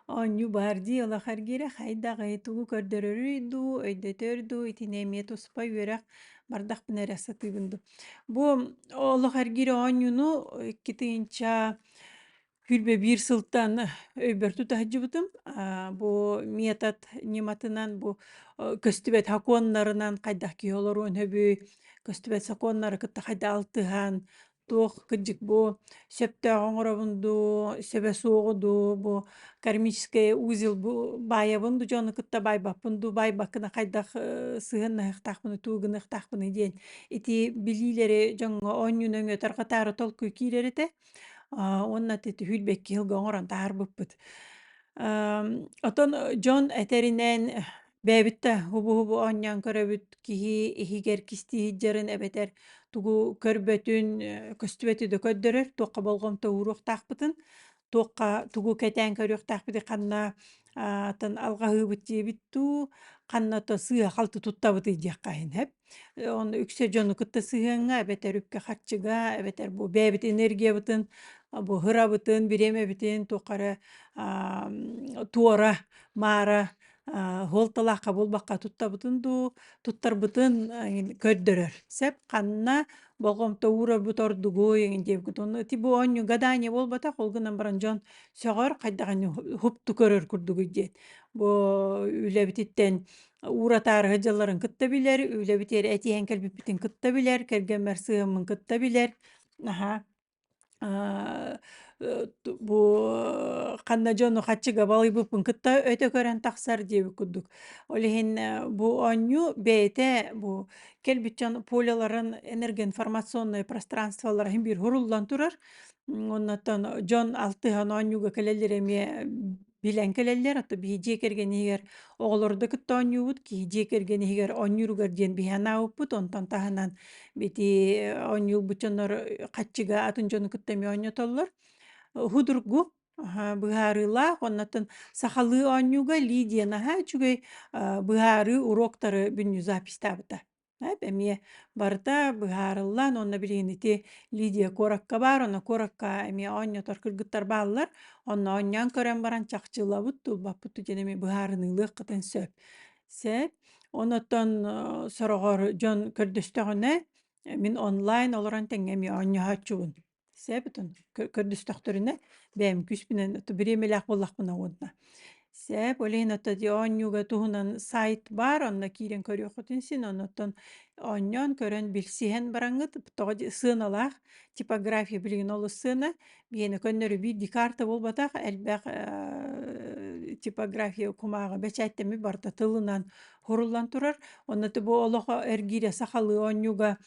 Оонньуу баар дии улахан эргиирэ хайдаҕый, тугу көрдөрөрүй дуу, өйдөтөр дуу, итини эмиэ туспа үөрэх бардахпына эрэ сатыыбын дуу. Бу олох эргиир оонньууну икки тыһыынча сүүрбэ биир сылтан өйбөр тута сылдьыбытым. Аа, бу метод ньыматынан бу э, көстүбэт сокуоннарынан хайдах киһи олоруон сөбүй, көстүбэт сокуоннары кытта хайдах алтыһан, Туох кырдьык бу сөптөөх оҥоробун дуу, сөбө суоҕу дуу, бу кармический узел бу баайабын дуу, дьону кытта баайбаппын дуу, баайбаккына хайдах э, сыһыаннаһыахтаахпыный, туугунаахтаахпыный диэн ити билиилэри дьоҥҥо оонньуу нөҥүө тарҕатаары толкуй киирэр этэ. А, уонна ити хүлбэкки ыалга оҥорон таһаарбыппыт. Эм, оттон э, дьон этэринэн Бэйэбиттэ хубу-хубу оонньоон көрөбүт, киһи иһигэр кисти иһдьарын эбэтэр тугу көрбөтүн, э, көстүбөтү да көрдөрөр, туохха болҕомто ууруохтаахпытын, туохха тугу кэтээн көрүөхтаахпытый, ханна аатын алҕаһыыбыт диэбит дуу, ханна то сыыһа-халты туттабытый диэххэ иһин, хэп Оны үксэ дьону кытта сыһыаҥҥа, эбэтэр үпкэ харчыга, эбэтэр бу бэйэбит энергиябытын, буһарабытын, бириэмэбитин тухары туора, маара аһыалталаахха буолбакка туттабытын дуу, туттарбытын көрдөрөр. Сөп ханна болҕомто уурарбыт ордугуй диэбиккит онно ити бу оонньуу гадание буолбатах ол гынан баран дьон сөҕөр хайдах ини уһукту көрөр курдугуй диэн. Бу үлэбититтэн уратаарыһы дьылларын кытта билэр, үлэбит иэри этиһэн кэлбиппитин кытта билэр, кэргэммэр сыһыаммын кытта билэр. Наһаа аа бу ханна дьону хаччыга балыйбыппын кытта өтө көрөн тахсар диэбит курдук. Ол иһин бу оонньуу бэйэтэ бу кэлбит дьон поляларын энергоинформационнай пространстволара иһин биир суруллан турар. Оннуттан дьон алтыһан оонньууга кэлэллэр эмиэ билэн кэлэллэр, а то биһи дьиэ кэргэн иһигэр оҕолору да кытта оонньуубут, киһи дьиэ кэргэн иһигэр оонньууругар диэн биһи анаабыппыт, онтон таһынан ити оонньуурбут дьоннор хаччыга атын дьону кытта эмиэ оонньотоллор. Худургу, быһаарыылаах, оннуттан сахалыы оонньууга ли диэн аһаа үчүгэй быһаарыы уруоктары бүннүү запистаабыта. Эп эмиэ барыта быһаарыллан уонна билигин ити Лидия куоракка баар, онно куоракка эмиэ оонньотор кыргыттар бааллар. Онно оонньоон көрөн баран чахчылабыт, тулбаппыт диэн эмиэ быһаарыныылыаххытын сөп. Сөп. Оннооттон э, сороҕор дьон көрдөстөҕүнэ, мин онлайн олорон тэҥҥэ эмиэ оонньооччубун. Сээбитун көрдөстөхтөрүнэ бэйэм күүспүнэн бириэмэлээх буоллахпына уонна сээп ол иһин оттон оонньууга туһунан сайт баар онно киирэн көрүөххүтүн син оннуттан оонньоон көрөн билсиһэн бараҥҥыт тоҕо сыаналаах типография билигин олус сыана биэни көннөрү биир декарта буолбатах элбэх типография кумааҕы бэчээттэмми барыта тылынан хуруллан турар онно бу олохо эргиирэ сахалыы оонньууга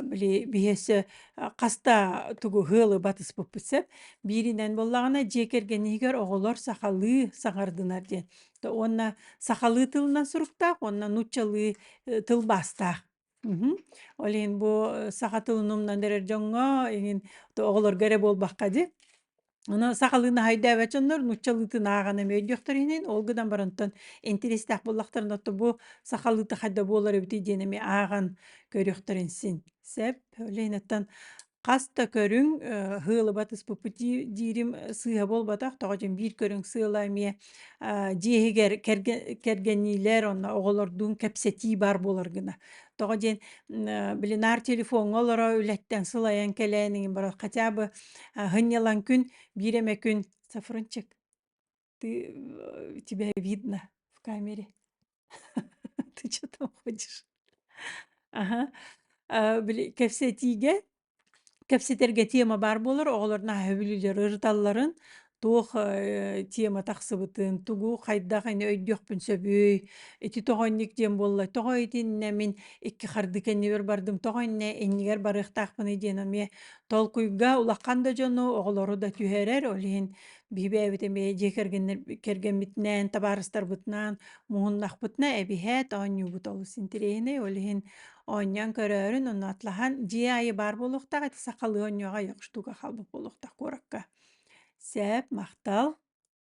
били биһиэсэ хаста тугу ыалы батыспыппыт сөп бииринэн буоллаҕына дьиэ кэргэн иһигэр оҕолор сахалыы саҥардынар диэн то уонна сахалыы тылынан суруктаах уонна нууччалыы э, тылбаастаах мгм. ол иһин бу саха тылын умнан эрэр дьоҥҥо иһин то оҕолорго эрэ буолбакка дии Аны сахалыы наһайдаабат дьоннор нууччалыытын ааҕан эмиэ өйдүөхтэр иһинин, ол гынан барантан интэристээх буоллахтарына ото бу сахалыыта хайда буолар эбитий диэн эмиэ ааҕан көрүөхтэрин син. Сөп. Ленаттан хас да көрүҥ, э, ыһыалыбат испуппутии диирим, э, сыыһа буолбатах, тоҕо диэн биир көрүҥ сыала эмиэ дьиэһигэр кэргэниилэр онно оҕолордуун кэпсэтии баар буолар гына. Тоҕо диэн блинар телефоҥҥа олоро үлэттэн сылайан кэлээн игин баран хотя бы һынньалаҥ күн биир эмэ күн сафрынчик ты тебя видно в камере ты что там ходишь аха кэпсэтиигэ Кэпсэтэргэ тема баар буолар, оҕолор наһаа сөбүлүүлэр ырыталларын, туох э, тема тахсыбытын, тугу хайдах ини өйдүөхпүн сөбүй, ити тоҕо инник диэн буолла, тоҕо итиннэ мин икки хардыы кэннибэр бардым, тоҕо иннэ иннигэр барыахтаахпыный диэн эмиэ толкуйга улахан да дьону, оҕолору да түһэрэр, ол иһин биһи бэйэбит эмиэ дьиэ кэргэннэр кэргэммитинээн, табаарыстарбытынаан муһуннахпытына эбиһээт оонньуубут олус интириэһинэй, ол иһин Оонньоон көрөөрүн, онно атлаһан, дьиэ аайы баар буолуохтаах эти сахалыы оонньуоҕа, ё штука халбык буолуохтаах куоракка. Сээп, махтал!